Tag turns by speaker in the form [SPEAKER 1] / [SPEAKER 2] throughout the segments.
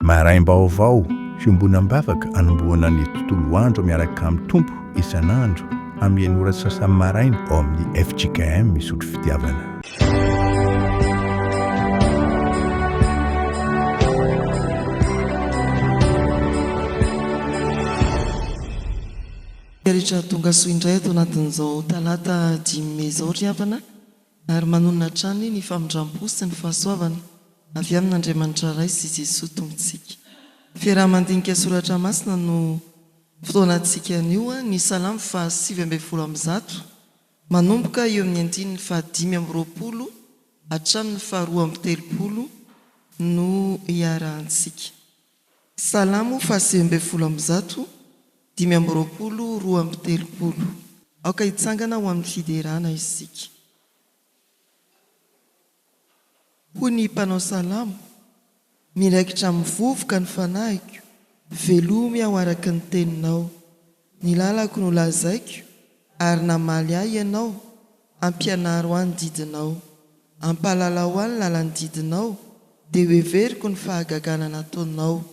[SPEAKER 1] Maraim-baovao, Fiombonam-bavaka anombohana ny tontolo andro miaraka amin'ny Tompo isan'andro amin'ny enina ora sy sasany maraina ao amin'ny fjkm Misotro Fitiavana.
[SPEAKER 2] Rehetra tongasoa indray ato anatin'izao talata dimy mey izao ry havana. ary manonona hatrany ny famindrampo sy ny fahasoavana avy amin' Andriamanitra Ray sy Jesoa Tompontsika. Fiaraha-mandinika soratra masina no fotoanantsika anio, ny Salamo fahasivy ambin'ny folo amby zato, manomboka eo amin'ny andininy fahadimy amby roapolo hatramin'ny faharoa amby telopolo no iarahantsika. Salamo fahasivy ambin'ny folo amby zato, dimy amby roapolo, roa amby telopolo. Aoka hitsangana ho amin'ny fiderana isika. Hoy ny mpanao salamo, Miraikitra amin'ny vovoka ny fanahiko, velomy aho araka ny teninao. Ny lalako no lazaiko, ary namaly ahy Ianao, Ampianaro ahy ny didinao. Ampahalalao ahy ny lalan'ny didinao, Dia hoheveriko ny fahagagana nataonao.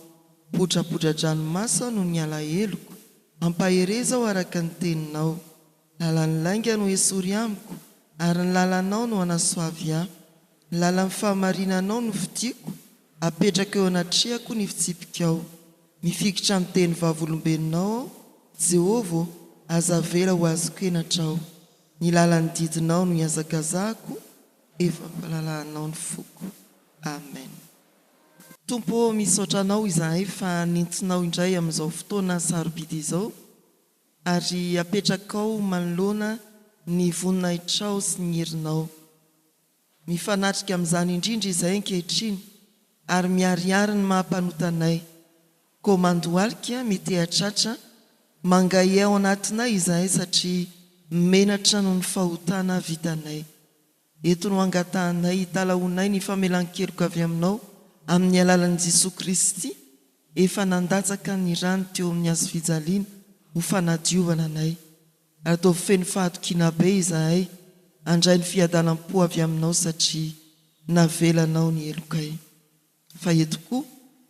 [SPEAKER 2] Podrapodradranomaso aho noho ny alaheloko, Ampahereza aho araka ny teninao. Lalan'ny lainga no esory amiko, ary ny lalanao no anasoavy ahy. Ny lalan'ny fahamarinanao no fidiako, apetrako eo anatrehako ny fitsipikao. Mifikitra amin'ny teny vavolombelonao aho, Jehovah ô, aza avela ho azoko henatra aho. Ny lalan'ny didinao no ihazakazahako, efa am-pahalalahanao ny foko. Amen. Tompo ô, misaotra Anao izahay fa nentinao indray amin'izao fotoana sarobidy izao. Ary apetrakao manoloana ny voninahitrao sy ny herinao. Mifanatrika amin'izany indrindra izahay ankehitriny, ary miharihary ny maha-mpanota anay. Koa mandohalika, mitehatratra, mangahiay ao anatinay izahay satria menatra noho ny fahotana vitanay. Eto no angatahanay hitalahoanay ny famelan-keloka avy aminao amin'ny alalan'i Jesoa Kristy efa nandatsaka ny rany teo amin'ny hazo fijaliana ho fanadiovana anay. Ataovy feno fahatokiana be izahay handray ny fiadanam-po avy aminao satria navelanao ny helokay. Fa eto koa,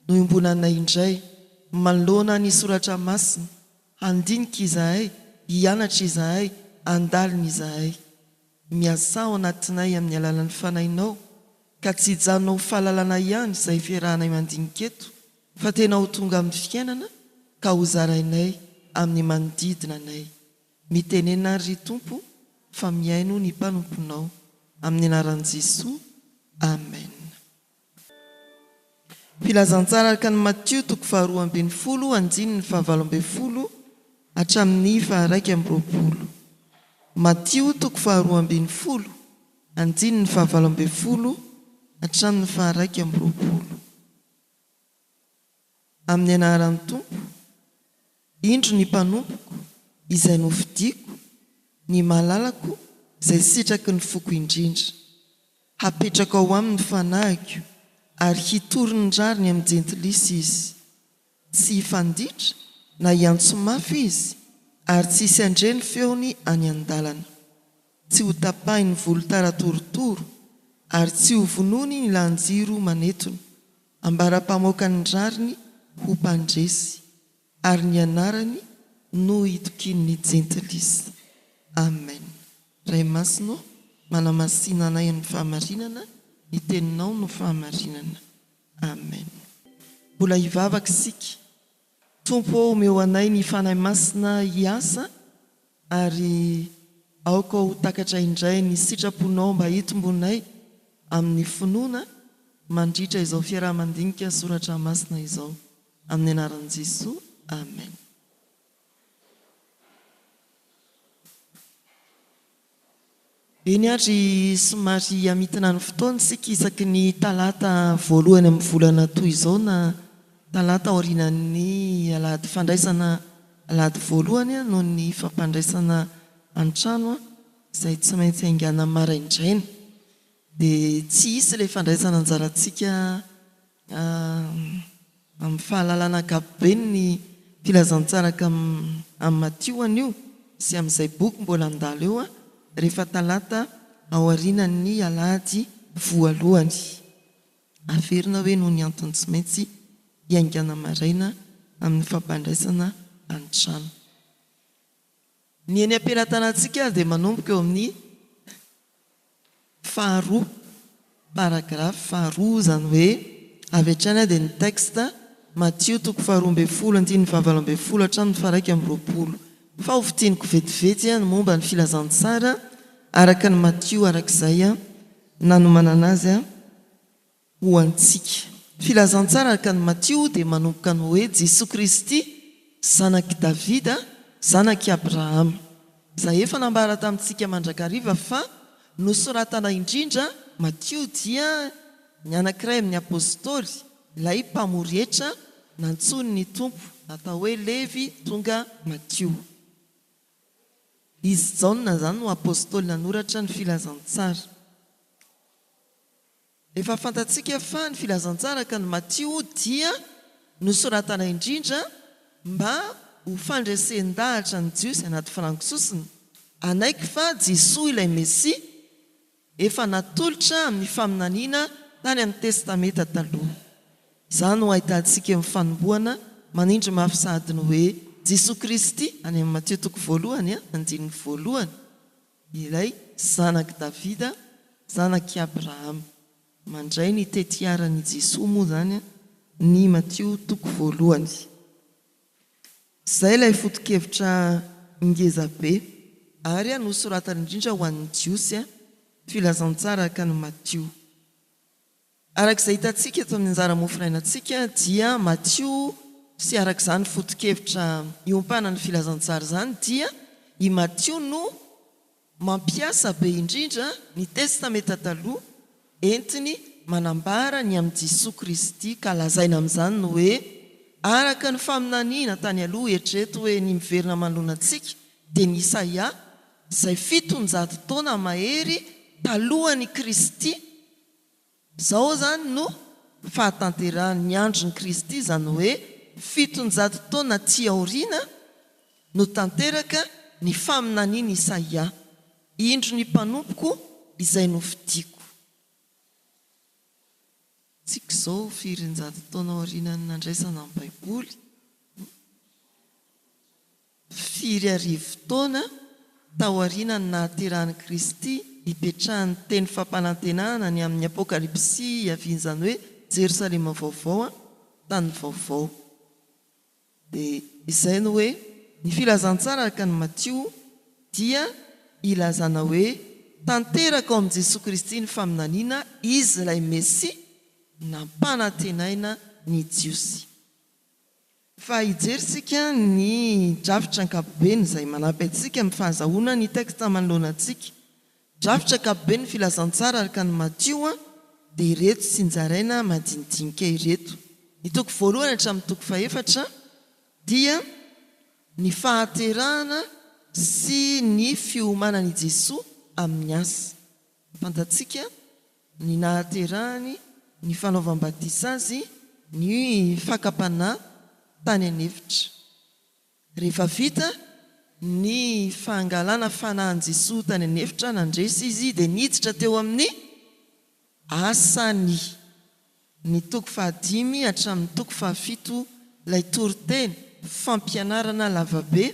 [SPEAKER 2] noiombonanay indray, manoloana ny Soratra Masina, handinika izahay, hianatra izahay, handalina izahay. Miasà ao anatinay amin'ny alalan'ny Fanahinao, ka tsy hijanona ho fahalalana ihany izay fiarahanay mandinika eto, fa tena ho tonga amin'ny fiainana ka hozarainay amin'ny manodidina anay. Mitenena ary ry Tompo fa mihaino ny mpanomponao. Amin'ny anaran'i Jesoa, Amen. Filazantsara araka an'i Matio toko faharoa ambin'ny folo andininy fahavalo ambin'ny folo hatramin'ny faharaika amby roapolo. Matio toko faharoa ambin'ny folo andininy fahavalo ambin'ny folo hatramin'ny faharaika amby roapolo. Amin'ny anaran'ny Tompo, indro ny mpanompoko izay nofidiko, ny malalako izay sitraky ny foko indrindra. Hapetrako ao aminy ny fanahiko, ary hitory ny rariny amin'ny jentilisa izy. Tsy hifanditra na hiantso mafy izy, ary tsy hisy handre ny feony any an-dalana. Tsy hotapahin'ny volotara torotoro, ary tsy hovonoiny ny lahan-jiro manetona. Ambara-pamoaka ny rariny ho mpandresy, ary ny anarany no hitokian'ny jentilisa. Amen. Ray Masina ô, manamasina anay amin'ny fahamarinana, ny Teninao no fahamarinana. Amen. Mbola hivavaka isika. Tompo ô omeo anay ny Fanahy Masina hiasa ary aoka ho takatra indray ny sitraponao mba hitombonay amin'ny finoana mandritra izao fiaraha-mandinika soratra masina izao. Amin'ny anaran'i Jesoa, Amen. Eny ary somary hamintina ny fotoana isika isaky ny talata voalohany amin'ny volana toy izao na talata aorianan'ny alahady fandraisana alahady voalohany noho ny fampandraisana an-trano izay tsy maintsy haingana maraindraina. Dia tsy hisy ilay fandraisana anjarantsika amin'ny fahalalana ankapobeny ny filazantsaraka amin'i Matio anio sy amin'izay boky mbola handalo eo rehefa talata aorianan'ny alahady voalohany. Averina hoe noho ny antony tsy maintsy hiaingàna maraina amin'ny fampandraisana an-trano. Ny eny am-pelatanantsika ary dia manomboka eo amin'ny faharoa, paragraphe faharoa, izany hoe avy hatrany dia ny texte, Matio toko faharoa ambin'ny folo andininy fahavalo ambin'ny folo hatramin'ny faharaika amby roapolo. Fa ho fintiniko vetivety ny momba ny filazantsara araka an'i Matio arak'izay nanomanana azy. ho antsika. Filazantsara araka an'i Matio dia manomboka amin'ny hoe Jesoa Kristy, zanak'i Davida, zanak'i Abrahama. Izay efa nambara tamintsika mandrakariva fa nosoratana indrindra Matio dia ny anankiray amin'ny Apostoly, ilay mpamory hetra nantsoin'ny Tompo natao hoe Levy tonga Matio. Izy Jaona izany no Apostoly nanoratra ny Filazantsara. Efa fantatsika fa ny Filazantsaraka ny Matio dia nosoratana indrindra mba ho fandresen-dahatra ny Jiosy anaty farango sosona hanaiky fa Jesoa ilay Mesia efa natolotra amin'ny faminaniana tany amin'ny Testamenta Taloha. Izany no ahitantsika eo amin'ny fanombohana manindry mafy sahady ny hoe Jesoa Kristy any amin'ny Matio toko voalohany andininy voalohany. Milay, zanak'i Davida, zanak'i Abrahama. Mandray ny tetiaran'i Jesoa moa izany ny Matio toko voalohany. Izay ilay foto-kevitra ngeza be ary nosoratany indrindra ho an'ny Jiosy, Filazantsara araka an'i Matio. Araka izay hitantsika eto amin'ny anjara mofo rainantsika dia Matio sy araka izany foto-kevitra iompana ny filazantsara izany dia i Matio no mampiasa be indrindra ny Testamenta Taloha entiny manambara ny amin'i Jesoa Kristy ka lazaina amin'izany ny hoe araka ny faminaniana tany aloha eritrereto hoe ny miverina manoloana antsika dia ny Isaia izay fitonjato taona mahery talohan'i Kristy Izao izany no fahatanterahan'ny andron'i Kristy, izany hoe fitonjato taona aty aoriana no tanteraka ny faminanian'i Isaia, Indro ny mpanompoko izay nofidiako. Antsika izao, firy an-jato taona aorianan'ny nandraisana ny Baiboly? Mpifiry arivo taona taorianan'ny nahaterahan'i Kristy, ipetrahan'ny teny fampanantenana ny amin'ny Apokalypsy hiavian'izany hoe Jerosalema Vaovao, tany vaovao. Dia izay no hoe, ny Filazantsara araka an'i Matio dia ilazana hoe tanteraka ao amin'i Jesoa Kristy ny faminaniana Izy ilay Mesia nampanantenaina ny Jiosy. Fa hijery isika ny drafitra ankapobeny izay manampy antsika amin'ny fahazahoana ny texte manoloana antsika. Drafitra ankapoben'ny filazantsara araka an'i Matio dia ireto tsinjaraina madinidinika ireto. Ny toko voalohany hatramin'ny toko fahefatra dia ny fahaterahana sy ny fiomanan'i Jesoa amin'ny asa. Fantatsika. ny nahaterahany, ny fanaovam-batisa azy, ny fakam-panahy tany an'efitra. Rehefa vita ny fangalana fanahin'i Jesoa tany an'efitra, nandresy Izy dia niditra teo amin'ny asany. Ny toko fahadimy hatramin'ny toko fahafito ilay toriteny, fampianarana lavabe,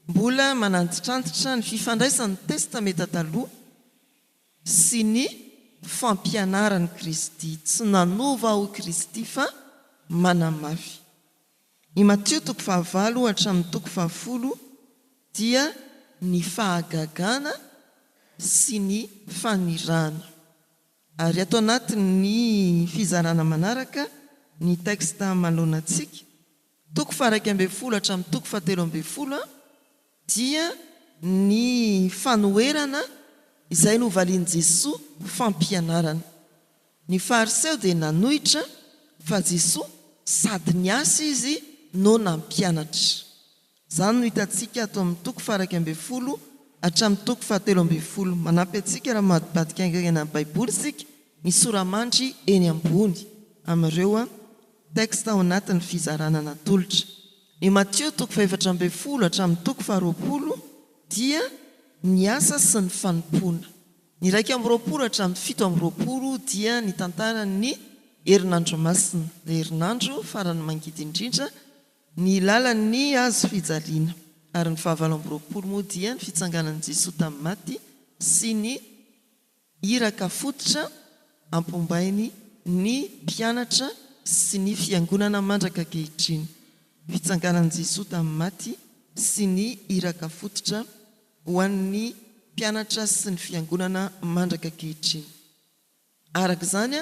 [SPEAKER 2] mbola manantitrantitra ny fifandraisan'ny Testamenta Taloha, sy ny fampianaran'i Kristy, tsy nanova aho i Kristy fa manamafy. I Matio toko fahavalo hatramin'ny toko fahafolo dia ny fahagagana sy ny fanirahana. Ary ato anatin'ny fizarana manaraka ny texte manoloana antsika toko faharaika ambin'ny folo hatramin'ny toko fahatelo ambin'ny folo dia ny fanoherana izay novalian'i Jesoa ho fampianarana. Ny Fariseo dia nanohitra fa Jesoa sady niasa Izy no nampianatra. Izany no hitantsika ato amin'ny toko faharaika ambin'ny folo hatramin'ny toko fahatelo ambin'ny folo. Manampy antsika raha mivadibadika haingana ny Baiboly isika ny sora-mandry eny ambony amin'ireo. Texte ao anatin'ny fizarana natolotra. I Matio toko fahefatra ambin'ny folo hatramin'ny toko faharoapolo dia ny asa sy ny fanompoana. Ny iraika amby roapolo hatramin'ny fito amby roapolo dia ny tantaran'ny herinandro masina, ilay herinandro farany mangidy indrindra, ny lalan'ny hazo fijaliana, ary ny fahavalo amby roapolo moa dia ny fitsanganan'i Jesoa tamin'ny maty sy ny. Iraka fototra ampombainy ny mpianatra sy ny Fiangonana mandrak'ankehitriny, fitsanganan'i Jesoa tamin'ny maty sy ny iraka fototra ho an'ny mpianatra sy ny Fiangonana mandrak'ankehitriny. Araka izany,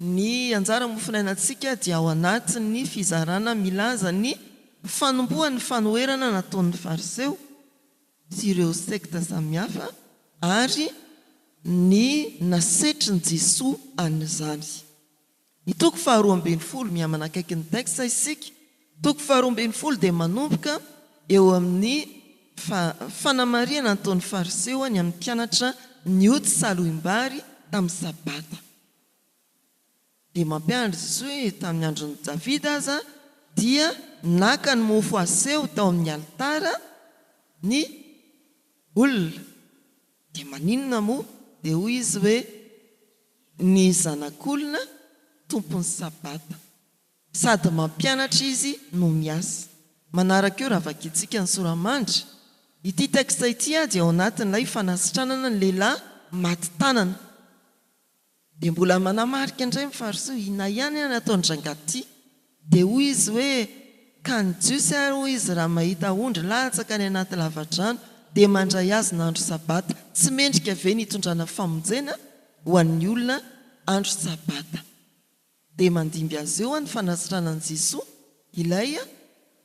[SPEAKER 2] ny anjara mofonainantsika dia ao anatin'ny fizarana milaza ny fanombohan'ny fanoherana nataon'ny Fariseo, sy ireo sekta samihafa ary ny nasetrin'i Jesoa an'izany. Ny toko faharoa ambin'ny folo, mihamanakaiky ny tex isika, toko faharoa ambin'ny folo dia manomboka eo amin'ny fa fanamarihana nataon'ny Fariseo ny amin'ny mpianatra nioty salohim-bary tamin'ny Sabata. Dia mampianatra Jesosy hoe tamin'ny andron'i Davida aza dia naka ny mofo aseho tao amin'ny alitara ny olona. Dia maninona moa? Dia hoy izy hoe ny Zanak'olona tompon'ny sabata. Sady mampianatra izy no miasa. Manaraka io raha vakintsika ny sora-mandry. Ity texte ity dia ao anatin'ilay fanasitranana ny lehilahy maty tanana. Dia mbola manamarika indray ny farisoa, inona ihany ary ataon'i rangahy ty? Dia hoy izy hoe, ka ny Jiosy ary hoy izy raha mahita ondry latsaka any anaty lavadrano dia mandray azy ny andro sabata, tsy mendrika ve ny hitondrana famonjena ho an'ny olona andro sabata? Dia mandimby azy eo ny fanasitranan'i Jesoa ilay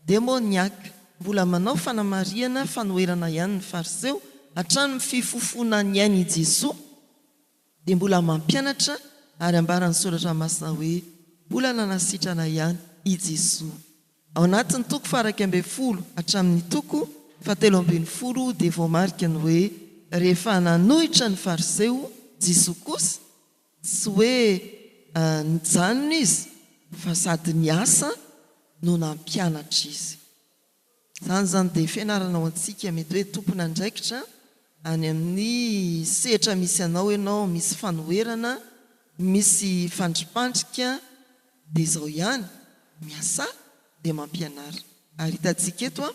[SPEAKER 2] demoniaka. Mbola manao fanamarihana fanoherana ihany ny fariseo hatramin'ny fifofoana ny ainy i Jesoa dia mbola mampianatra ary ambaran'ny soratra masina hoe mbola nanasitrana ihany i Jesoa. Ao anatin'ny toko faharaika ambin'ny folo hatramin'ny toko fahatelo ambin'ny folo dia voamarika ny hoe rehefa nanohitra ny fariseo Jesoa kosa, tsy hoe nijanona izy fa sady niasa no nampianatra izy. Izany izany dia fianarana ho antsika. Mety hoe tompon'andraikitra any amin'ny sehatra misy anao ianao, misy fanoherana, misy fandripandrika, dia izao ihany, miasà dia mampianara. Ary hitantsika eto,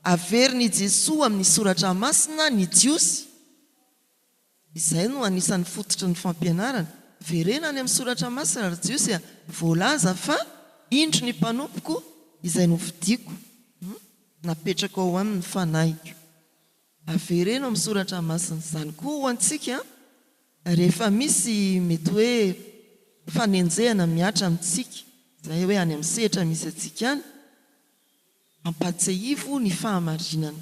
[SPEAKER 2] averin'i Jesoa amin'ny Soratra Masina ny Jiosy, Izay no anisan'ny fototry ny fampianarana. Verena any amin'ny Soratra Masina, ry Jiosy a! Voalaza fa, Indro ny mpanompoko, izay nofidiko, napetrako ao aminy ny fanahiko. Avereno amin'ny Soratra Masina. Izany koa ho antsika, rehefa misy mety hoe fanenjehana mihatra amintsika, izay hoe any amin'ny sehatra misy antsika any, Ampahatsiahivo ny fahamarinana,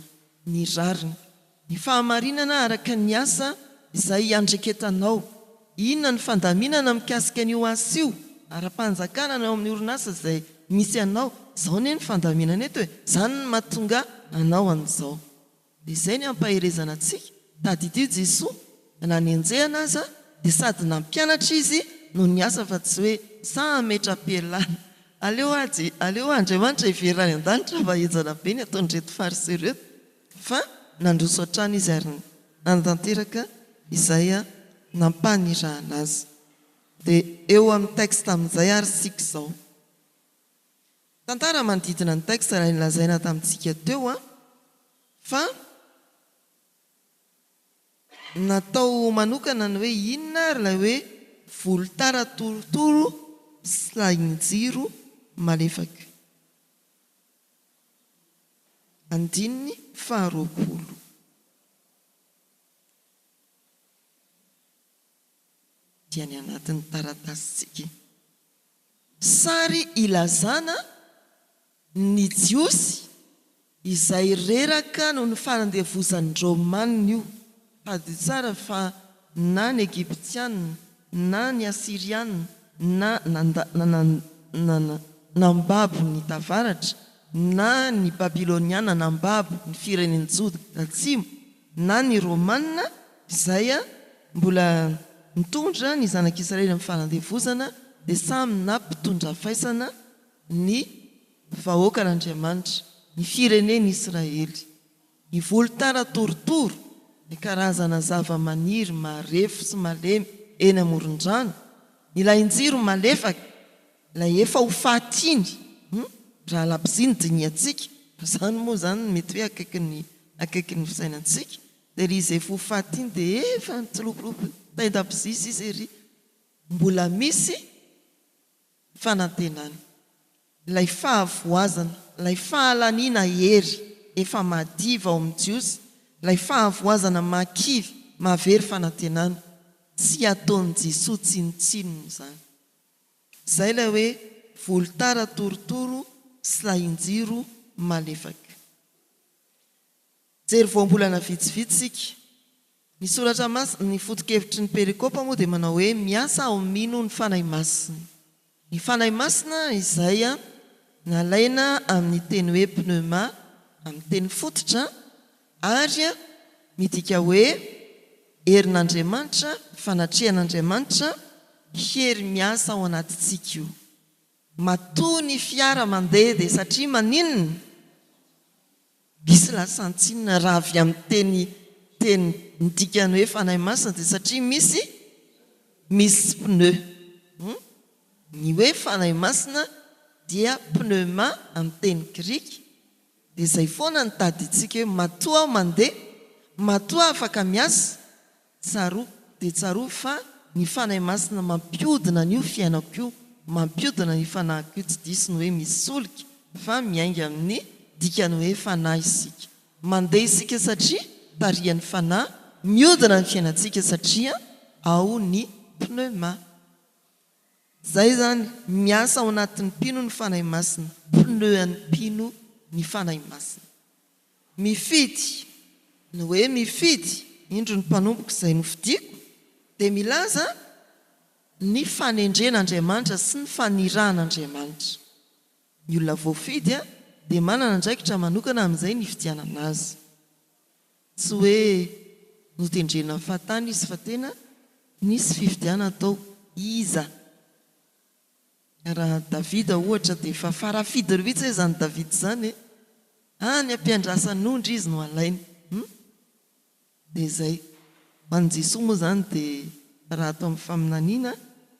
[SPEAKER 2] ny rariny. Ny fahamarinana araka ny asa izay iandraiketanao. Inona ny fandaminana mikasika an'io asa io ara-panjakana na eo amin'ny orinasa izay misy anao? Izao anie ny fandaminana eto e! Izany no mahatonga anao an'izao. Dia izay ny ampaherezana antsika, tadidio Jesoa, na ny enjehana aza dia sady nampianatra Izy no niasa fa tsy hoe sahy hametra-pialana. Aleo aho Je, aleo aho Andriamanitra hiverina any an-danitra fa enjana be ny ataon'ireto Fariseo ireto. Fa nandroso hatrany Izy ary nanatanteraka izay nampanirahana Azy. Dia eo amin'ny texte amin'izay ary isika izao. Tantara manodidina ny texte ilay nolazaina tamintsika teo an, fa natao manokana ny hoe inona ary ilay hoe volotara torotoro sy lahin-jiro malefaka. Andininy faharoapolo. dia ny anatin'ny taratasintsika. Sary ilazana ny Jiosy izay reraka noho ny fanandevozan'ny Romanina io. Tadidio tsara fa na ny Egyptiana na ny Asiriana na nandà, nambabo ny Tavaratra, na ny Babyloniana nambabo ny firenen'i Joda Tatsimo, na ny Romana izay mbola nitondra ny Zanak'i Israely amin'ny fanandevozana dia samy nampitondra faisana ny vahoakan'Andriamanitra, ny firenen'Israely. Ny volotara torotoro, ny karazana zavamaniry marefo sy malemy eny amoron-drano, ny lahinjiro malefaka, Ilay efa ho faty iny hum raha labozia ny dinihantsika fa izany moa izany no mety hoe akaiky ny akaiky ny fisainantsika dia ry izay efa ho faty iny dia efa nitsilopilopy tain-dabozia sisa ery mbola misy fanantenana ilay fahavoazana ilay fahalaniana hery efa madiva ao amin'ny jiosy ilay fahavoazana mahakivy mahavery fanantenana tsy ataon'i jesoa tsinontsinona izany Zay lay hoe volotara torotoro sy lahinjiro malefaka. Jery voambolana vitsivitsy isika. Ny soratra masina, ny foto-kevitry ny perikopa moa dia manao hoe miasa aho mino ny Fanahy Masina. Ny Fanahy Masina izay nalaina amin'ny teny hoe pneuma amin'ny teny fototra. Ary midika hoe herin'Andriamanitra, fanatrehan'Andriamanitra, hery miasa ao anatintsika io. Matoa ny fiara mandeha dia satria maninona? Misy lasan-tsinona raha avy amin'ny teny teny midika ny hoe Fanahy Masina dia satria misy misy pneu. Ny hoe Fanahy Masina dia pneuma amin'ny teny grika. Dia izay foana no tadintsika hoe matoa aho mandeha, matoa afaka miasa, tsaroako dia tsaroako fa ny Fanahy Masina mampiodina an'io fiainako io, mampiodina ny fanahiko io, tsy diso ny hoe misy solika fa miainga amin'ny dikan'ny hoe fanahy isika. Mandeha isika satria tarihan'ny Fanahy, miodina ny fiainantsika satria ao ny pneuma. Zay izany miasa ao anatin'ny mpino ny Fanahy Masina, pneu an'ny mpino ny Fanahy Masina. Mifidy, ny hoe mifidy, indro ny mpanompoko izay nofidiko, dia milaza ny fanendren' Andriamanitra sy ny fanirahan' Andriamanitra. Ny olona voafidy dia manana andraikitra manokana amin'izay nifidianana azy. Tsy hoe notendrena fahatany izy fa tena nisy fifidianana tao. Iza? Raha Davida ohatra dia efa farafidy rihitsy hoe izany Davida izany e! Any am-piandrasan'ondry izy no alaina. Hum? Dia izay. Ho an'i Jesoa moa izany dia raha ato amin'ny faminaniana,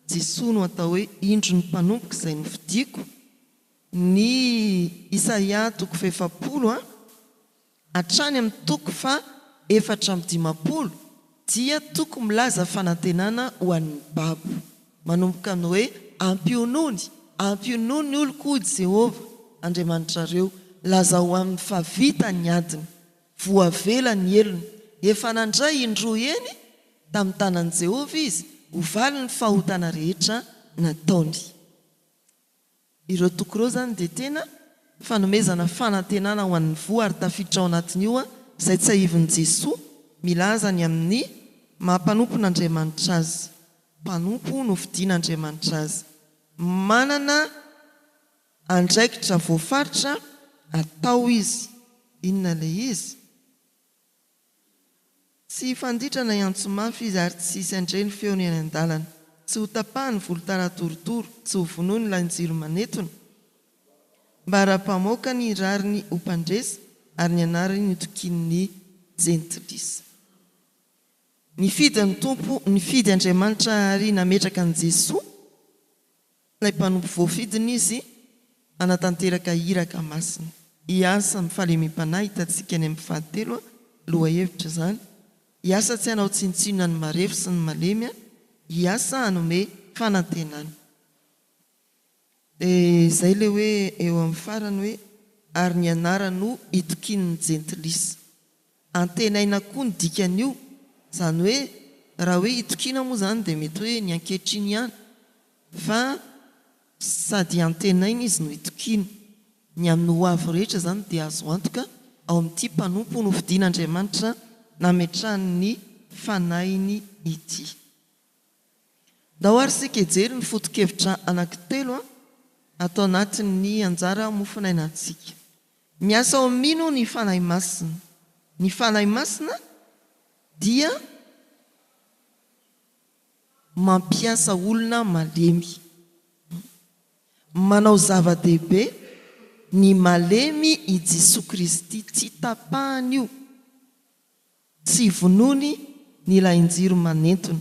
[SPEAKER 2] Jesoa no atao hoe indro ny mpanompoko izay nofidiko. Ny Isaia toko fahefapolo a. hatrany amin'ny toko faha efatra amby dimampolo dia toko milaza fanantenana ho an'ny babo, manomboka amin'ny hoe, Ampionony, ampionony oloko hoy Jehovah, Andriamanitrareo, lazao aminy fa vita ny adiny, voavela ny helony, efa nandray indroa eny tamin'ny tanan'i Jehovah izy, ho valin'ny fahotana rehetra nataony. Ireo toko ireo izany dia tena fanomezana fanantenana ho an'ny voa ary tafiditra ao anatin'io izay tsahivin'i Jesoa milaza ny amin'ny maha mpanompon'Andriamanitra Azy, mpanompo nofidin'Andriamanitra Azy, manana andraikitra voafaritra atao Izy. Inona ilay izy? Tsy hifanditra na hiantso mafy izy ary tsy hisy handre ny feony eny an-dalana. Tsy hotapahany ny volontany atorotoro, tsy hovonoiny lahin-jiro manetona. Mbaram-pamoaka ny rariny ho mpandresy ary ny anarany ho tokin'ny jentilisa. Nifidy ny Tompo, nifidy Andriamanitra ary nametraka an'i Jesoa. Ilay mpanompo voafidiny izy hanatanteraka iraka masina. Hiasa amin'ny fahalemem-panahy hitantsika any amin'ny fahatelo lohahevitra izany. Hiasa tsy hanao tsinontsinona ny marefo sy ny malemy aho, hiasa hanome fanantenana. Dia izay ilay hoe eo amin'ny farany hoe ary ny anara no itokian'ny jentilisa. Antenaina koa ny dikan'io, izany hoe raha hoe itokiana moa izany dia mety hoe ny ankehitriny ihany fa sady antenaina izy no itokiana. Ny amin'ny ho avy rehetra izany dia azo antoka ao amin'ity mpanompo nofidin'Andriamanitra nametrahany ny Fanahiny ity. Ndao ary isika hijery ny foto-kevitra anankitelo ato anatin'ny anjara mofonainantsika. Miasa ao amin'ny inona ny Fanahy Masina? Ny Fanahy Masina dia mampiasa olona malemy. Manao zava-dehibe ny malemy i Jesoa Kristy. Tsy tapahan'io. Tsy vonoiny ny ilain-jiro manentona.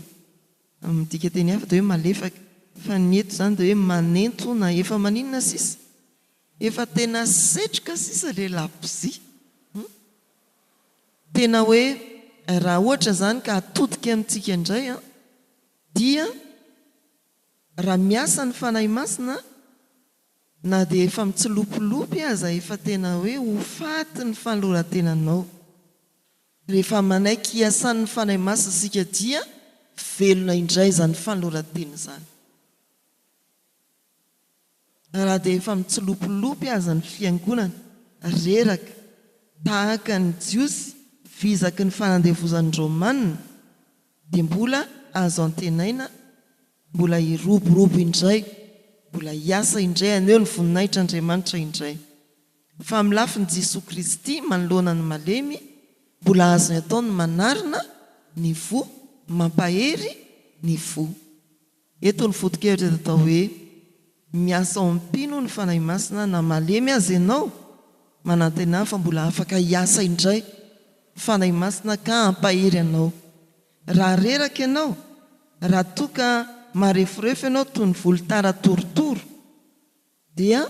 [SPEAKER 2] Amin'ny dikanteny hafa dia hoe malefaka. Fa ny eto izany dia hoe manentona. Efa maninona sisa? Efa tena setroka sisa ilay labozia. Hum. Tena hoe raha ohatra izany ka atodika amintsika indray an, dia raha miasa ny Fanahy Masina, Na dia efa mitsilopilopy aza efa tena hoe ho faty ny fanoloran-tenanao. Rehefa manaiky hiasan'ny Fanahy Masina isika dia velona indray izany fanoloran-tena izany. Raha dia efa mitsilopilopy aza ny Fiangonana, reraka, tahaka ny Jiosy vizaky ny fanandevozan'ny Romanina, dia mbola azo antenaina, Mbola hiroborobo indray, mbola hiasa indray haneho ny voninahitr' Andriamanitra indray. Fa amin'ny lafiny Jesoa Kristy manoloana ny malemy, mbola azony atao ny manarina ny fo, mampahery ny fo. Eto ny foto-kevitra dia atao hoe, Miasa ao amin'ny mpino ny Fanahy Masina na malemy aza ianao, manantenà fa mbola afaka hiasa indray ny Fanahy Masina ka hampahery anao. Raha reraka ianao, raha toa ka mareforefo ianao toy ny volotara torotoro, dia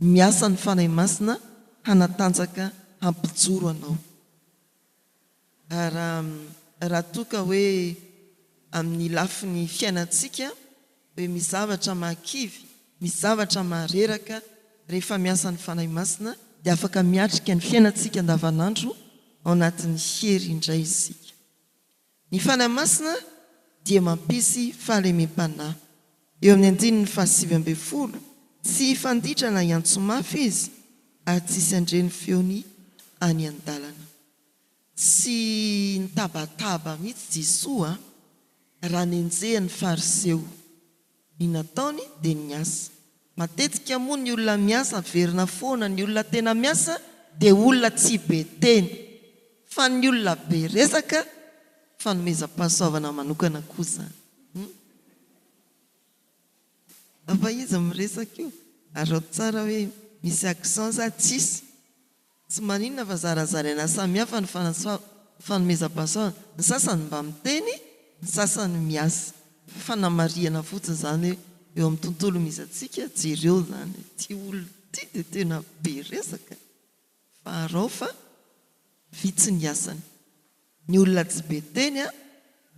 [SPEAKER 2] miasa ny Fanahy Masina hanatanjaka hampijoro anao. Ary raha toa ka hoe amin'ny lafiny fiainantsika, Be misy zavatra mahakivy, misy zavatra mahareraka, rehefa miasa ny Fanahy Masina dia afaka miatrika ny fiainantsika andavanandro ao anatin'ny hery indray isika. Ny Fanahy Masina dia mampisy fahalemem-panahy. Eo amin'ny andininy fahasivy ambin'ny folo, Tsy hifanditra na hiantso mafy izy, ary tsy hisy handre ny feony any an-dalana. Tsy nitabataba mihitsy Jesoa raha nenjehan'ny Fariseo. Ny nataony dia niasa. Matetika moa ny olona miasa averina foana, ny olona tena miasa dia olona tsy be teny, fa ny olona be resaka, fanomezam-pahasoavana manokana koa izany. Angamba izy miresaka io, araho tsara hoe misy accent sa tsisy. Tsy maninona fa zarazaraina samihafa ny fanomezam-pahasoavana. Ny sasany mba miteny, ny sasany miasa. Fanamarihana fotsiny izany hoe eo amin'ny tontolo misy antsika, jereo izany, ity olona ity dia tena be resaka fa arao fa vitsy ny asany. Ny olona tsy be teny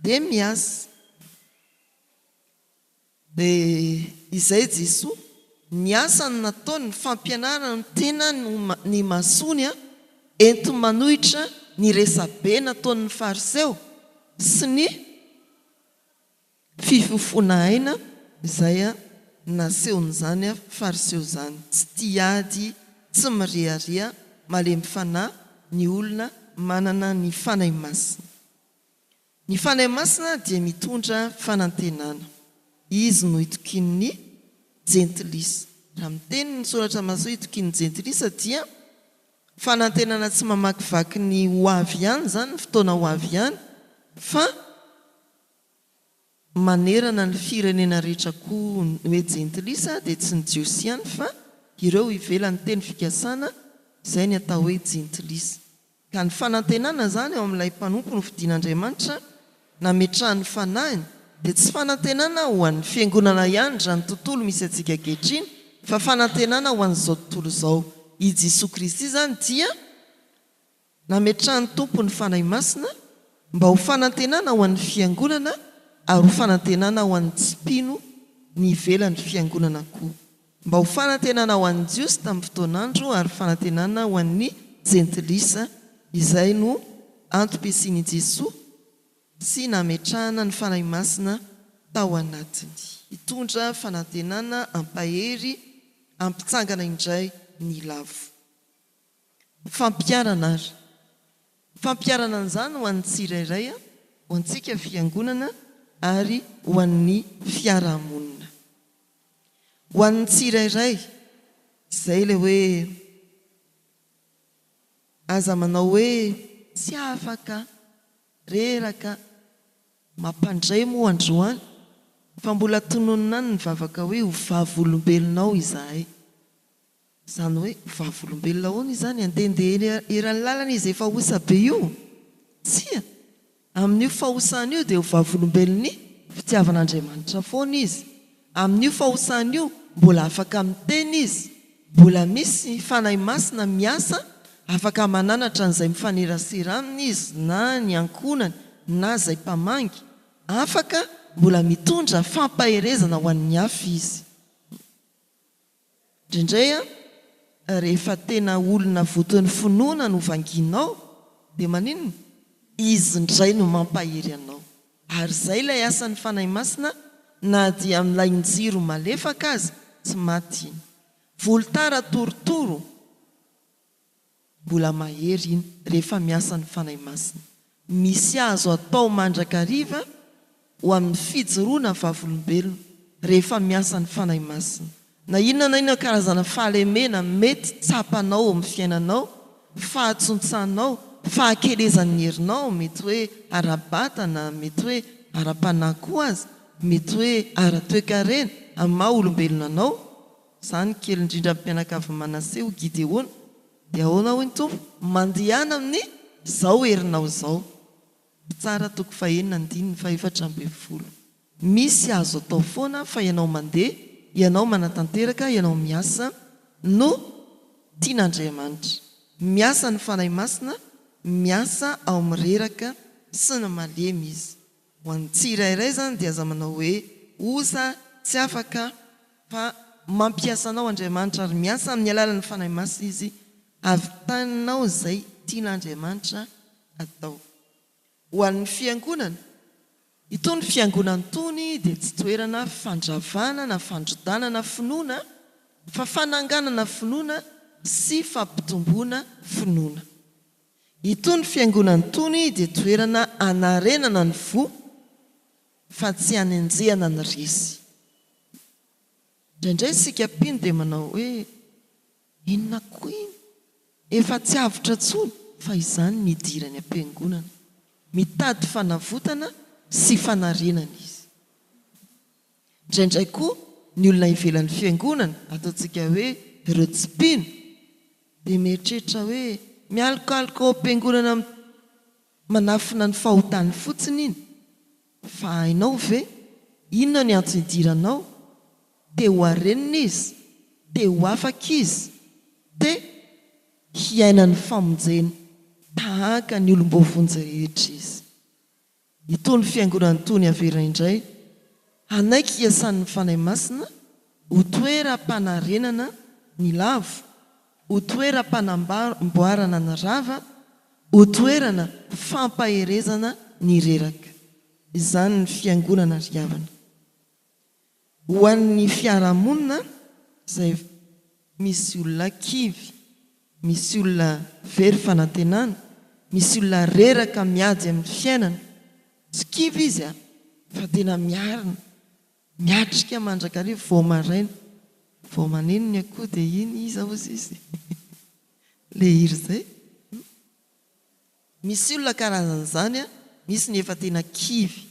[SPEAKER 2] dia miasa. Dia izay Jesoa, ny asany nataony, ny fampianarany, ny tenany, ny masony an, entiny manohitra ny resabe nataon'ny fariseo sy ny fifofoana aina izay nasehon'izany fariseo izany, tsy tia ady, tsy mirehareha, malemy fanahy ny olona manana ny Fanahy Masina. Ny Fanahy Masina dia mitondra fanantenana. Izy no itokian'ny Jentilisa. Raha miteny ny Soratra Masoa itokian'ny Jentilisa dia fanantenana tsy mamakivaky ny ho avy ihany izany, ny fotoana ho avy ihany, fa manerana ny firenena rehetra koa. Ny hoe Jentilisa dia tsy ny Jiosy ihany fa ireo ivelan'ny teny fikasana izay ny atao hoe Jentilisa. Ka ny fanantenana izany eo amin'ilay mpanompo nofidin'Andriamanitra nametrahany ny fanahiny dia tsy fanantenana ho an'ny fiangonana ihany izany tontolo misy antsika ankehitriny fa fanantenana ho an'izao tontolo izao. I Jesoa Kristy izany dia nametrahan'ny Tompo ny Fanahy Masina mba ho fanantenana ho an'ny fiangonana ary ho fanantenana ho an'ny tsy mpino ny ivelan'ny fiangonana koa. Mba ho fanantenana ho an'ny Jiosy tamin'ny fotoan'andro ary fanantenana ho an'ny Jentilisa izay no antom-pisian'i Jesoa sy nametrahana ny Fanahy Masina tao anatiny. Hitondra fanantenana hampahery hampitsangana indray ny lavo. Fampiharana ary. Fampiharana an'izany ho an'ny tsirairay, ho antsika Fiangonana ary ho an'ny fiarahamonina. Ho an'ny tsirairay. Izay ilay hoe aza manao hoe tsy afaka, reraka, mampandray moa androany fa mbola tononina any ny vavaka hoe ho vavolombelonao izahay. Izany hoe vavolombelona ahoana izany? Handehandeha eny eran'ny lalana izy efa osa be io? Tsia! Amin'io fahosany io dia ho vavolombelon'ny fitiavan'Andriamanitra foana izy. Amin'io fahosany io, mbola afaka miteny izy, mbola misy ny Fanahy Masina miasa, afaka mananatra an'izay mifanerasera aminy izy na ny ankohonany na izay mpamangy, afaka mbola mitondra fampaherezana ho an'ny hafa izy. Indraindray an, rehefa tena olona voton'ny finoana no vangianao dia maninona? Izy indray no mampahery anao. Ary izay ilay asan'ny Fanahy Masina na dia amin'ilay njiro malefaka aza, tsy maty iny. Volotara torotoro. Mbola mahery iny rehefa miasa ny Fanahy Masina. Misy azo atao mandrakariva ho amin'ny fijoroana vavolombelona rehefa miasa ny Fanahy Masina. Na inona na inona karazana fahalemena mety tsapanao ao amin'ny fiainanao, fahatsontsanao, fahakelezan'ny herinao, mety hoe ara-batana, mety hoe ara-panahy koa aza, mety hoe ara-toekarena amin'ny maha olombelona anao, Izaho ny kely indrindra amin'ny mpianakavin'i Manase, hoy Gideona. Dia ahoana hoy ny Tompo? Mandehana amin'izao herinao izao. Mpitsara toko fahenina andininy fahefatra ambin'ny folo. Misy azo atao foana fa ianao mandeha, ianao manatanteraka, ianao miasa no tian'Andriamanitra. Miasa ny Fanahy Masina, miasa ao amin'ny reraka sy ny malemy Izy. Ho an'ny tsirairay izany dia aza manao hoe osa, tsy afaka, fa mampiasa anao Andriamanitra ary miasa amin'ny alalan'ny Fanahy Masina Izy havitaninao izay tian'Andriamanitra hatao ho an'ny Fiangonana. Itony Fiangonana itony dia tsy toerana fandravana na fandrodanana finoana fa fananganana finoana sy fampitomboana finoana. Itony fiangonana itony dia toerana anarenana ny fo fa tsy anenjehana ny resy. Indraindray isika mpino dia manao hoe, inona koa iny? Efa tsy avotra intsony fa izany ny idirany am-piangonana. Mitady fanavotana sy fanarenana izy. Indraindray koa ny olona ivelan'ny fiangonana, ataontsika hoe ireo tsy mpino, dia mieritreritra hoe mialokaloka ao am-piangonana manafina ny fahotany fotsiny iny. Fa hainao ve inona ny antso idiranao? Te ho harenina izy, te ho afaka izy, te hiaina ny famonjena tahaka ny olom-boavonjy rehetra izy. Itony fiangonana itony averina indray hanaiky hiasan'ny Fanahy Masina ho toeram-panarenana ny lavo, ho toeram-panamboarana ny rava, ho toerana fampaherezana ny reraka. Izany ny fiangonana ry havana. Ho an'ny fiarahamonina izay misy olona kivy, misy olona very fanantenana, misy olona reraka miady amin'ny fiainana, tsy kivy izy fa tena miarina, miatrika mandrakariva vao maraina, vao maneno ny akoho dia iny iza hozy izy? ilay hira izay. Misy olona karazan'izany a, misy ny efa tena kivy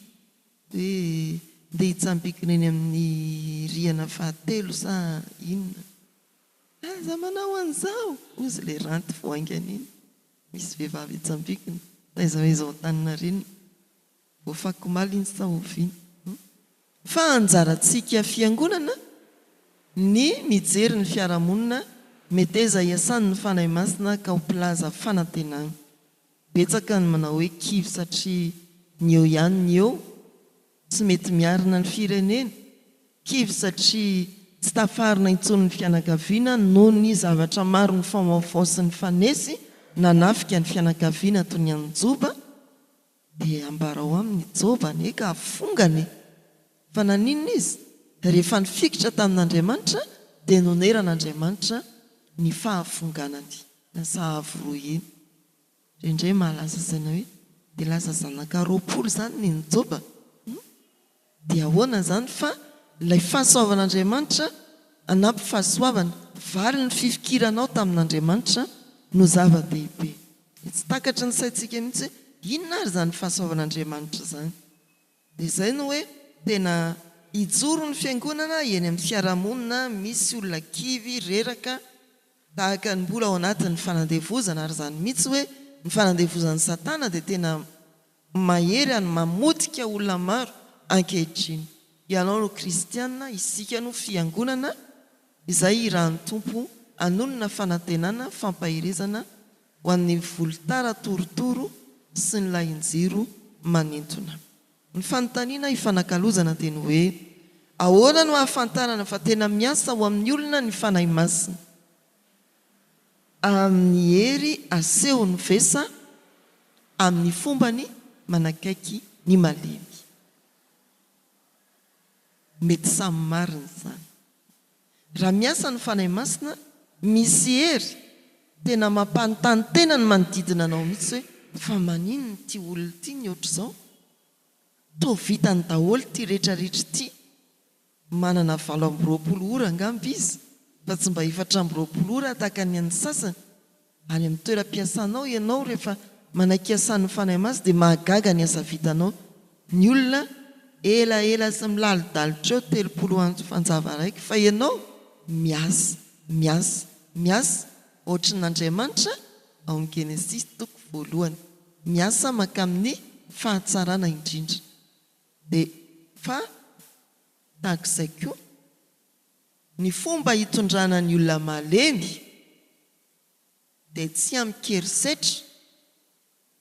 [SPEAKER 2] hoe ndeha hitsambikina eny amin'ny rihana fahatelo sa inona. Aza manao an'izao! Hozy ilay ranty fo haingana iny. Misy vehivavy hitsambikina, taiza ho aiza ao Antaninarenina. Voafaky omaly iny sao oviana. Fa anjarantsika fiangonana ny mijery ny fiarahamonina meteza hiasan'ny Fanahy Masina ka ho mpilaza fanantenana. Betsaka ny manao hoe kivy satria ny eo ihany ny eo tsy mety miarina ny firenena, kivy satria tsy tafarina intsony ny fianakaviana noho ny zavatra maro nifaovaofao sy nifanesy nanafika ny fianakaviana toy ny an'i Joba, Dia ambarao aminy i Joba anie ka hafongana e! Fa naninona izy? Rehefa nifikitra tamin'Andriamanitra dia noneran'Andriamanitra ny fahafonganany. Lasa avo roa heny. Indraindray mahalasa saina hoe dia lasa zanaka roapolo izany ny Joba? Hum. Dia ahoana izany fa ilay fahasoavan'Andriamanitra hanampy fahasoavana, vary ny fifikiranao tamin'Andriamanitra no zava-dehibe. Dia tsy takatry ny saintsika mihitsy hoe inona ary izany fahasoavan'Andriamanitra izany. Dia izay no hoe tena hijoro ny fiangonana eny amin'ny fiarahamonina misy olona kivy, reraka, tahaka ny mbola ao anatin'ny fanandevozana, ary izany mihitsy hoe ny fanandevozan'i Satana dia tena Mahery ary mamotika olona maro ankehitriny. Ianao no kristiana, isika no fiangonana izay irahan'ny Tompo hanonona fanantenana, fampaherezana ho an'ny volotara torotoro sy ny lahin-jiro manintona. Ny fanontaniana ifanakalozana dia ny hoe, Ahoana no ahafantarana fa tena miasa ho amin'ny olona ny Fanahy Masina? Amin'ny hery asehon'ny vesa amin'ny fombany manakaiky ny malemy. Mety samy marina izany. Raha miasa ny Fanahy Masina, misy hery tena mampanontany tena ny manodidina anao mihitsy hoe, fa maninona ity olona ity ny ohatr'izao? Toa vitany daholo ity rehetra rehetra ity. Manana valo amby roapolo ora angamba izy fa tsy mba efatra amby roapolo ora tahaka ny an'ny sasany. Any amin'ny toeram-piasanao ianao rehefa manaiky hiasà ny Fanahy Masina dia mahagaga ny asa vitanao. Ny olona elaela sy milalidalitra eo telopolo andro fanjava araiky fa ianao miasa, miasa, miasa ohatry ny Andriamanitra ao amin'ny Genesisy toko voalohany. Miasa mankamin'ny fahatsarana indrindra. Dia fa tahak'izay koa ny fomba hitondrana ny olona malemy dia tsy amin-kerisetra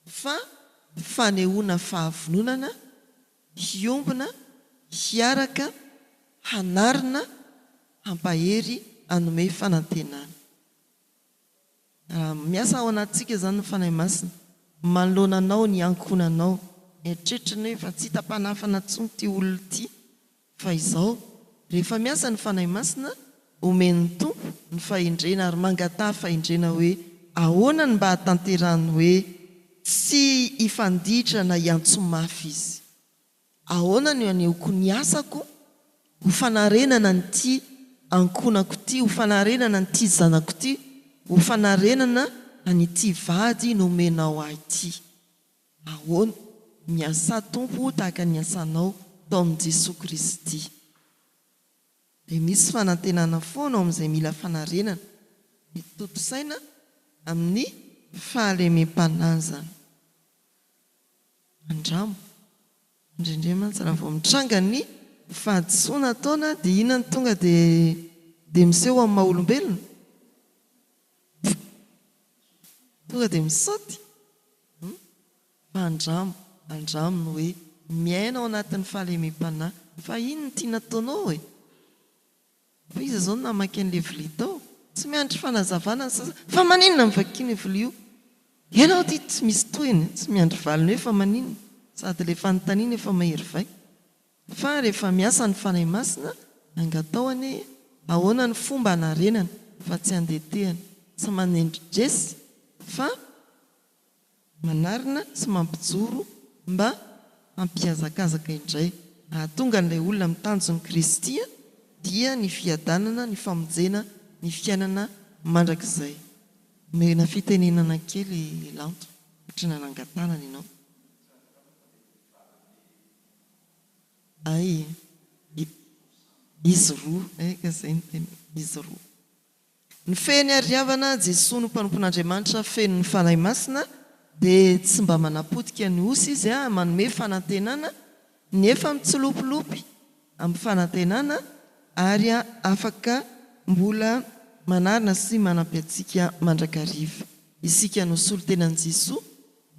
[SPEAKER 2] fa fanehoana fahavononana hiombona, hiaraka, hanarina, hampahery, hanome fanantenana. Miasa ao anatintsika izany ny Fanahy Masina. Manoloana anao ny ankohonanao. Eritreritry ny hoe efa tsy hita mpanafana intsony ity olona ity. Fa izao, rehefa miasa ny Fanahy Masina, omen'ny Tompo ny fahendrena ary mangataha fahendrena hoe ahoana ny mba hahatanterahany hoe tsy hifanditra na hiantso mafy izy. Ahoana no anehoako ny asako ho fanarenana an'ity ankohonako ity, ho fanarenana an'ity zanako ity, ho fanarenana an'ity vady nomenao ahy ity? Ahoana? Miasà Tompo tahaka ny asanao tao amin'i Jesoa Kristy. Dia misy fanantenana foana ao amin'izay mila fanarenana, mety tontosaina amin'ny fahalemem-panahy izany. Mandramo. Indrindray mantsy raha vao mitranga ny fahadisoana ataona dia inona no tonga dia dia miseho amin'ny maha olombelona? Tonga dia misaoty? Mandramo. Andramo ny hoe miaina ao anatin'ny fahalemem-panahy. Fa iny no tiana ataonao e! Fa iza zao no namaky an'le vilia tao? Tsy miandry fanazavana ny sasany fa maninona no vakiana io vilia io? Ianao ity tsy misy tohiny a! Tsy miandry valiny hoe fa maninona? Sady le fanontaniana efa mahery vaika. Fa rehefa miasa ny Fanahy Masina angataho anie e! Ahoana ny fomba hanarenana fa tsy handetehana? Tsy manendry resy fa. Manarina sy mampijoro mba hampihazakazaka indray. Hahatonga an'ilay olona amin'ny tanjon'i Kristy dia ny fiadanana, ny famonjena, ny fiainana mandrakizay. Omena fitenenana kely Lanto satria nanangan-tanana ianao. Hay, izy roa, hay ka izay no tena izy roa. Ny fehiny ary havana, Jesoa no mpanompon'Andriamanitra feno ny Fanahy Masina dia tsy mba manapotika ny osy Izy a, manome fanantenana ny efa mitsilopilopy amin'ny fanantenana ary afaka mbola manarina sy manampy antsika mandrakariva. Isika no solontenan'i Jesoa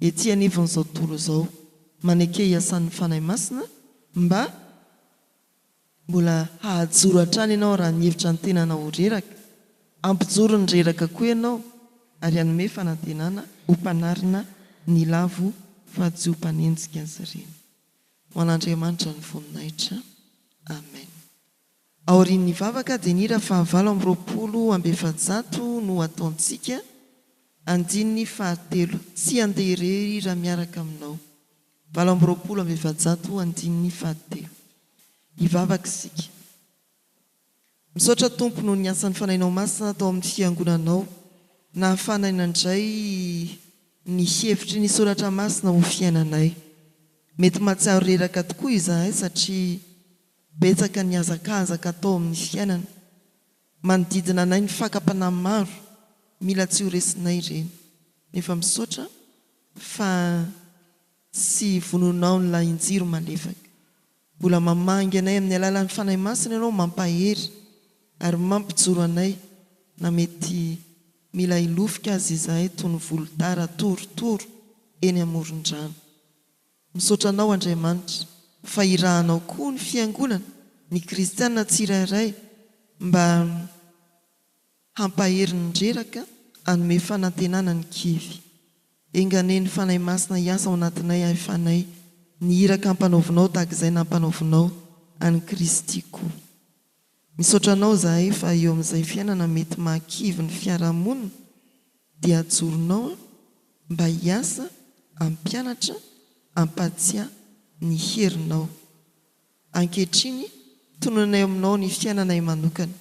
[SPEAKER 2] ety anivon'izao tontolo izao. Maneke hiasan'ny Fanahy Masina mba. Mbola hahajoro hatrany ianao raha mihevitra ny tenanao ho reraka. Hampijoro ny reraka koa ianao ary hanome fanantenana ho mpanarina ny lavo fa tsy ho mpanenjika ny sariny. Ho an'Andriamanitra ny voninahitra. Amen. Aorian'ny vavaka dia ny hira fahavalo amby roapolo amby efajato no hataontsika, andininy fahatelo, Tsy handeha irery raha miaraka aminao. Valo amby roapolo amby efajato andininy fahatelo. Hivavaka isika. Misaotra Tompo noho ny asan'ny Fanahinao Masina tao amin'ny Fiangonanao nahafahanay nandray ny hevitry ny Soratra Masina ho fiainanay. Mety mahatsiaro reraka tokoa izahay satria betsaka ny hazakazaka atao amin'ny fiainana Manodidina anay ny fakam-panahy maro, mila tsy ho resinay ireny. Nefa misaotra fa tsy vononao ny lahin-jiro malefaka. Mbola mamangy anay amin'ny alalan'ny Fanahy Masina Ianao, mampahery ary mampijoro anay na mety mila hilofika aza izahay toy ny volotara torotoro eny amoron-drano. Misaotra Anao Andriamanitra fa irahanao koa ny fiangonana, ny kristiana tsirairay mba hampahery ny reraka hanome fanantenana ny kivy. Enganie ny Fanahy Masina hiasa ao anatinay ahy Fanahy, ny iraka ampanaovinao tahaka izay nampanaovinao an'i Kristy koa. Misaotra anao zahay fa eo amin'izay fiainana mety mahakivy ny fiarahamonina dia ajoronao an mba hiasa hampianatra hampatsiahy ny herinao. Ankehitriny tononay ao aminao ny fiainanay manokana.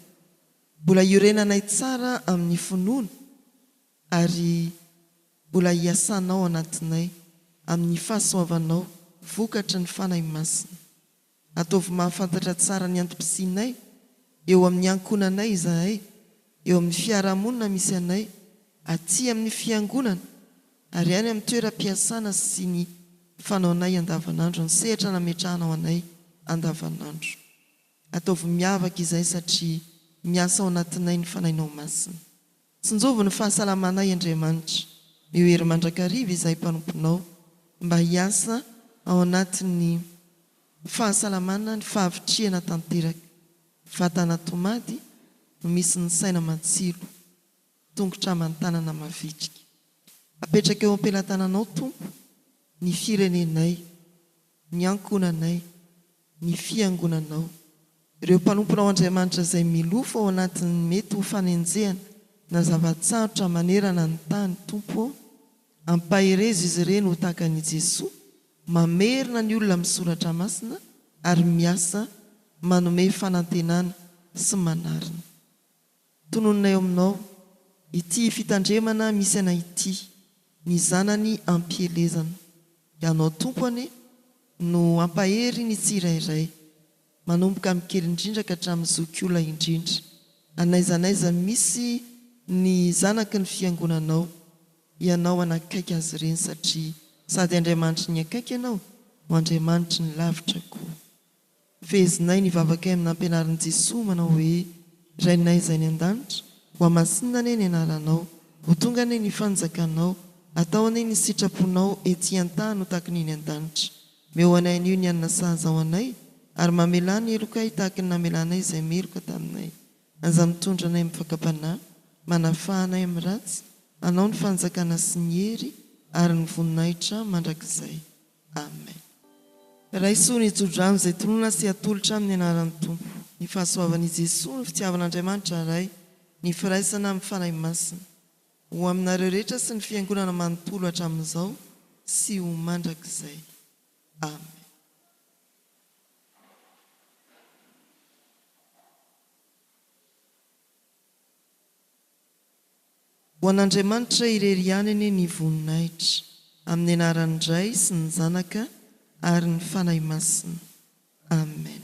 [SPEAKER 2] Mbola hiorenanay tsara amin'ny finoana ary mbola hiasanao anatinay amin'ny fahasoavanao vokatry ny Fanahy Masina. Ataovy mahafantatra tsara ny antom-pisianay eo amin'ny ankohonanay izahay, eo amin'ny fiarahamonina misy anay, aty amin'ny Fiangonana ary any amin'ny toeram-piasana sy ny fanaonay andavanandro ny sehatra nametrahanao anay andavanandro. Ataovy miavaka izay satria miasa ao anatinay ny Fanahinao Masina. Tsinjovy ny fahasalamanay Andriamanitra, eo hery mandrakariva izahay mpanomponao, mba hiasa ao anatin'ny fahasalamana ny fahavitrihana tanteraka, vatana tomady no misy ny saina matsilo, tongotra aman-tanana mavitrika. Apetraka eo am-pelatananao Tompo ny firenenay, ny ankohonanay, ny Fiangonanao, ireo mpanomponao Andriamanitra izay milofo ao anatin'ny mety ho fanenjehana na zava-tsarotra manerana ny tany, Tompo ô, ampaherezo izy ireny ho tahaka an'i Jesoa, mamerina ny olona amin'ny Soratra Masina ary miasa manome fanantenana sy manarina. Tononina eo aminao ity fitandremana misy anay ity, ny zanany ampielezana. Ianao Tompo anie no hampahery ny tsirairay, manomboka amin'ny kely indrindra ka hatramin'ny zokiolona indrindra. An'aiza n'aiza misy ny zanaky ny Fiangonanao, Ianao hanakaiky azy ireny satria sady Andriamanitry ny akaiky Ianao no Andriamanitry ny lavitra koa. Fehezinay ny vavakay amin'ny nampianarin'i Jesoa manao hoe, Rainay izay any an-danitra, ho hamasinina anie ny anaranao, ho tonga anie ny fanjakanao, atao anie ny sitraponao ety an-tany ho tahaky ny eny an-danitra. Meo anay anio ny hanina sahaza ho anay, ary mamelà ny helokay tahaky ny namelanay izay meloka taminay. Aza mitondra anay amin'ny fakam-panahy, manafaha anay amin'ny ratsy, anao ny fanjakana sy ny hery ary ny voninahitra mandrakizay. Amen. Raiso ny tsodrano izay tononina sy atolotra amin'ny anaran'ny Tompo. Ny fahasoavan' i Jesoa, ny fitiavan' Andriamanitra Ray, ny firaisana amin'ny Fanahy Masina. Ho aminareo rehetra sy ny Fiangonana manontolo hatramin'izao sy ho mandrakizay. Amen. Ho an'Andriamanitra irery ihany anie ny voninahitra, amin'ny anaran'ny Ray sy ny Zanaka ary ny Fanahy Masina. Amen.